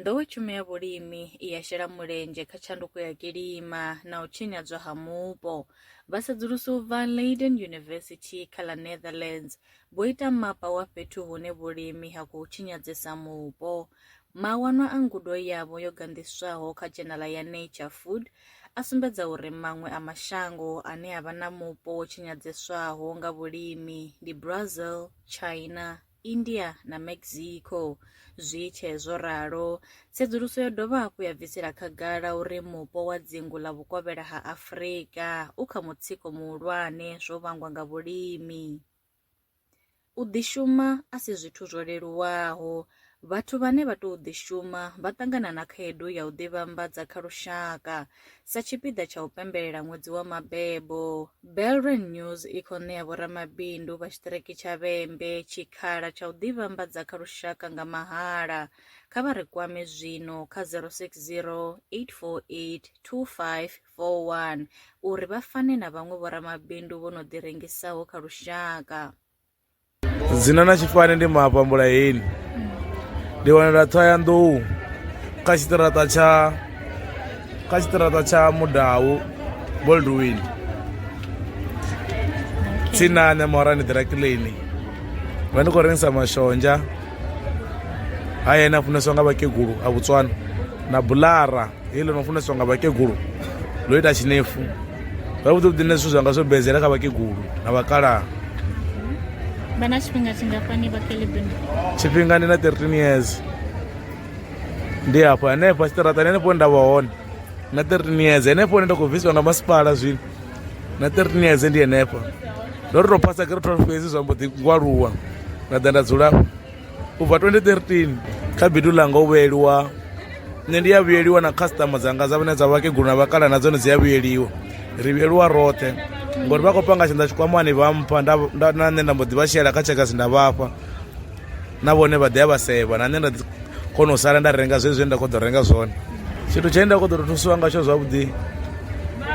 Nḓowetshumo ya vhulimi i ya shela mulenzhe kha tshanduko ya kilima na u tshinyadzwa ha mupo. Vhasedzulusi u bva Leiden University kha ḽa Netherlands vho ita mapa wa fhethu hune vhulimi ha khou tshinyadzesa mupo. Mawanwa a ngudo yavho yo ganḓiswaho kha dzhenala ya Nature Food a sumbedza uri maṅwe a mashango ane a vha na mupo wo tshinyadzeswaho nga vhulimi ndi Brazil, China India na Mexico. Zwi tshe zwo ralo, tsedzuluso yo dovha hafhu ya bvisela khagala uri mupo wa dzingu ḽa vhukovhela ha Afrika u kha mutsiko muhulwane zwo vhangwa nga vhulimi. U ḓishuma a si zwithu zwo leluwaho. Vhathu vhane vha tou ḓishuma vha ṱangana na khaedu ya u ḓivhambadza kha lushaka Sa tshipiḓa tsha u pembelela ṅwedzi wa mabebo, Belren News i khou ṋea vhoramabindu vha tshiṱiriki tsha Vhembe tshikhala tsha u ḓivhambadza kha lushaka nga mahala. Kha vha ri kwame zwino kha 060 848 2541 uri vha fane na vhaṅwe vhoramabindu vho no ḓirengisaho kha lushaka. dzina na tshifani ndi mafhambula heni ndi wanela ṱhoyandou kha tshiṱiraṱa tsha kha tshiṱiraṱa tsha mudau boldwin tsinane morani ḓirakileni vha ndi khou rengisa mashonzha haya ene a funeswa nga vhakegulu a botswana na bulara heḽi no funeswa nga vhakegulu ḽo ita tshinefu Zwavhuḓi vhuḓi nṋe zwithu zwanga zwo bedzela kha vhakegulu na vhakalaha. Vha na tshifhinga tshingafhani vha Kelebini? Tshifhinga ndi na 13 years. Ndi hafho hanefho tshiṱaraṱani hanefho nda vha hone na 13 years henefho hune nda khou bvisiwa nga masipala zwino na 13 years ndi henefho ndo ri tou phasa gere 12 fhedzi zwa mbo ḓi ngwaluwa nda ḓa nda dzula u bva 2013 kha bindu ḽanga u vhuyeliwa nṋe ndi a vhuyeliwa na customer dzanga dza vhane dza vhakegulu na vhakala na dzone dzi a vhuyeliwa ri vhuyeliwa roṱhe ngori vha khou panga tshanḓa tshikwamani vha mpha na nṋe nda mbo ḓi vha shela kha tshekasi nda vhafha na vhone vha ḓi a vha sevha na nṋe nda kona u sala nda renga zwe zwine nda khou ḓo renga zwone tshithu tshine nda khou ḓo to thusiwa ngatsho zwavhuḓi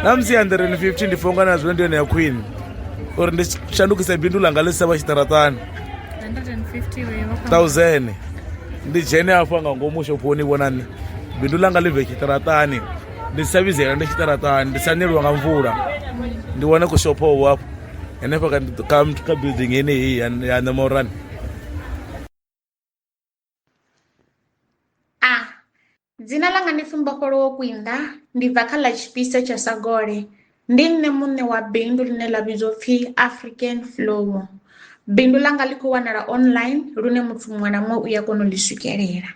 na musi ya nḓireni 50 ndi fonga na zwino ndi yone ya khwine uri ndi shandukise bindu ḽanga ḽi si tsha vha tshiṱaraṱani thousand ndi dzhene hafha nga ngomu shophoni vhona nṋe bindu ḽanga ḽi bve tshiṱaraṱani ndi sa vhizela ndi tshiṱaraṱani ndi sa neliwa nga mvula ndi wane kushophowo hafho henefha kha building yeneyi ya ṋemorani a dzina ḽanga ndi pfumbofholowo kwinda ndi bva kha ḽa tshipisa tsha sagole ndi nṋe muṋe wa bindu ḽine ḽa vhidzwa pfhi african flow bindu ḽanga ḽi khou wanala online lune muthu muṅwe na muṅwe u ya kona u ḽi swikelela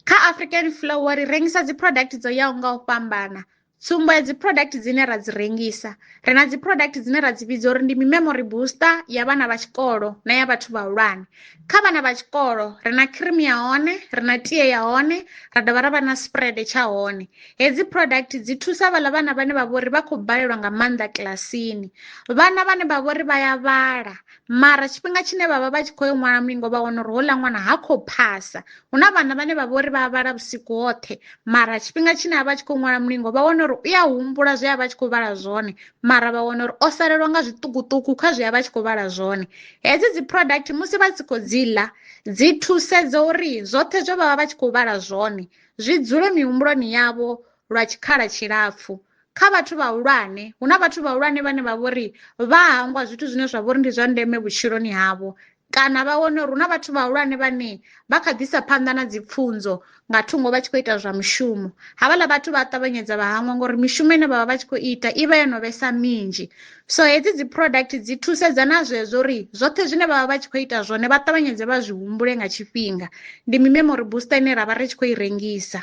kha african flow ri rengisa dzi product dzo yaho nga u fhambana tsumbo ya dzi product dzine ra dzi rengisa ri na dzi product dzine ra dzi vhidza uri ndi mi memory booster ya vhana vha tshikolo na ya vhathu vhahulwane kha vhana vha tshikolo ri na cream ya hone ri na tie ya hone ra dovha ra vha na spread tsha hone hedzi product dzi thusa vhala vhana vhane vha vhori vha khou balelwa nga maanḓa kilasini vhana vhane vha vhori vha ya vhala mara tshifhinga tshine vha vha vha tshi khou yo ṅwala mulingo vha wana uri houḽa ṅwana ha khou phasa hu na vhana vhane vha vha uri vha vhala vhusiku hoṱhe mara tshifhinga tshine a vha tshi khou ṅwala mulingo vha wana uri u ya humbula zwe a vha tshi khou vhala zwone mara vha wana uri o salelwa nga zwiṱukuṱuku kha zwe a vha tshi khou vhala zwone hedzi dzi product musi vha si khou dzi ḽa dzi thusedza uri zwoṱhe zwe vha vha vha tshi khou vhala zwone zwi dzule mihumbuloni yavho lwa tshikhala tshilapfu kha vhathu vhahulwane hu na vhathu vhahulwane vhane vha vhori vha hangwa zwithu zwine zwa vhori ndi zwa ndeme vhutshiloni havho kana vha wane uri hu na vhathu vhahulwane vhane vha kha ḓisa phanḓa na dzipfunzo nga thungo vha tshi khou ita zwa mushumo havhaḽa vhathu vha ṱavhanyedza vha hangwa ngori mishumo ine vhavha vha tshi khou ita i vha yo no vhesa minzhi so hedzi dzi product dzi thusedza na zwezwo uri zwoṱhe zwine vhavha vha tshi khou ita zwone vha ṱavhanyedze vha zwi humbule nga tshifhinga ndi mi memory booster ine ra vha ri tshi khou i rengisa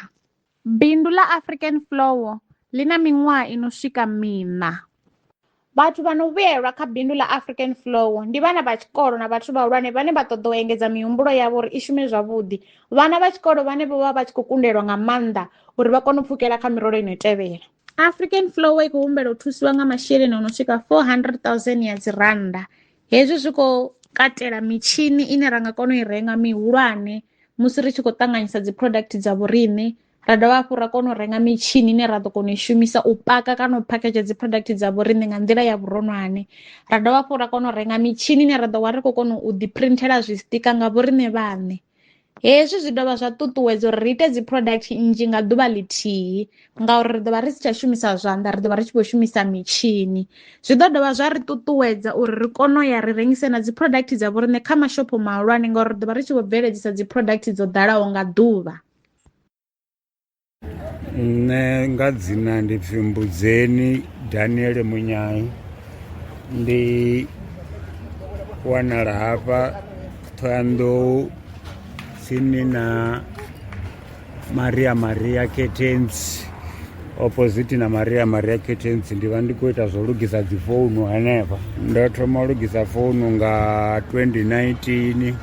Bindu ḽa African Flour ḽi na miṅwaha i no swika miṋa. Vhathu vha no vhuyelwa kha bindu ḽa African Flour ndi vhana vha tshikolo na vhathu vhahulwane vhane vha ṱoḓa u engedza mihumbulo yavho uri i shume zwavhuḓi. Vhana vha tshikolo vhane vho vha vha tshi khou kundelwa nga maanḓa uri vha kone u pfukela kha mirole ino tevhela. African Flour i khou humbela u thusiwa nga masheleni o no swika 400 000 ya dzi rannda. Hezwi zwi khou katela mitshini ine ra nga kona u i renga mihulwane musi ri tshi khou ṱanganyisa dzi product dza vhoriṋe ra dovha hafhu ra kona u renga mitshini ine ra ḓo kona u i shumisa u paka kana u phakhedzha dzi product dza vhoriṋe nga nḓila ya vhuronwane ra dovha hafhu ra kona u renga mitshini ine ra ḓo vha ri khou kona u ḓi printela zwi sitika nga vhoriṋe vhaṋe hezwi zwi dovha zwa ṱuṱuwedza uri ri ite dzi product nnzhi nga ḓuvha ḽithihi ngauri ri ḓo vha ri si tsha shumisa zwanḓa ri ḓo vha ri tshi vho shumisa mitshini zwi ḓo dovha zwa ri ṱuṱuwedza uri ri kone u ya ri rengise na dzi product dza vho riṋe kha mashopho mahulwane ngauri ri ḓo vha ri tshi vho bveledzisa dzi product dzo ḓalaho nga ḓuvha nṋe nga dzina ndi pfi mbudzeni daniel munyai ndi wanala hafha thoyandou tsini na maria maria curtains opposite na maria maria curtains ndi vha ndi khou ita zwo lugisa dzi founu henefha ndo thoma u lugisa founu nga 2019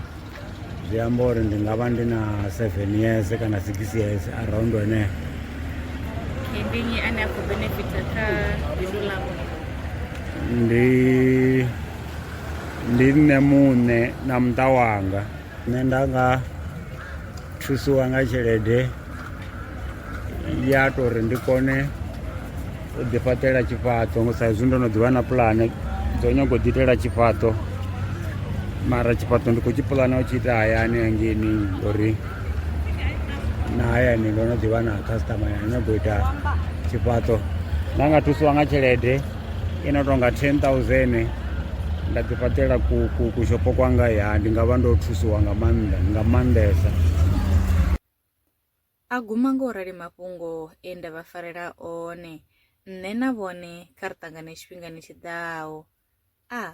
zwi amba uri ndi nga vha ndi na 7 years kana 6 years around hone ndi nnyi ane a khou benefita kha bindu ḽavho ndi ndi nṋe muṋe na muṱa wanga nṋe nda nga thusiwa nga tshelede ya to uri ndi kone u ḓi fhaṱela tshifhaṱo ngo sa izwi ndo no ḓivha na pulane dzo nyago u ḓi itela tshifhaṱo mara tshifhaṱo ndi khou tshi pulana u tshi ita hayani hangeni uri na hayani ndo no ḓivha na customer ya nyago u ita tshifhaṱo nda nga thusiwa nga tshelede i no tonga ten thousand nda ḓi fhaṱela kushopo kwanga ya ndi nga vha ndo thusiwa nga maanḓa nga maanḓesa a guma nga u rali mafhungo e nda vha farela one nṋe na vhone kha ri ṱangane tshifhingani tshiḓaho a ah.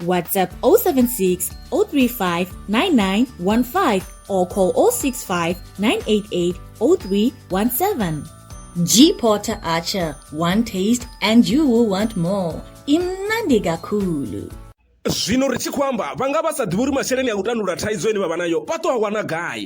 WhatsApp 076 035 9915 or call 065 988 0317. G Porter Archer, one taste and you will want more. Imnandi Gakulu. zwino ri tshi khou amba vha nga vha sa ḓivhi uri masheleni a u tandulula thaidzo ine vha vha nayo vha ṱo a wana gai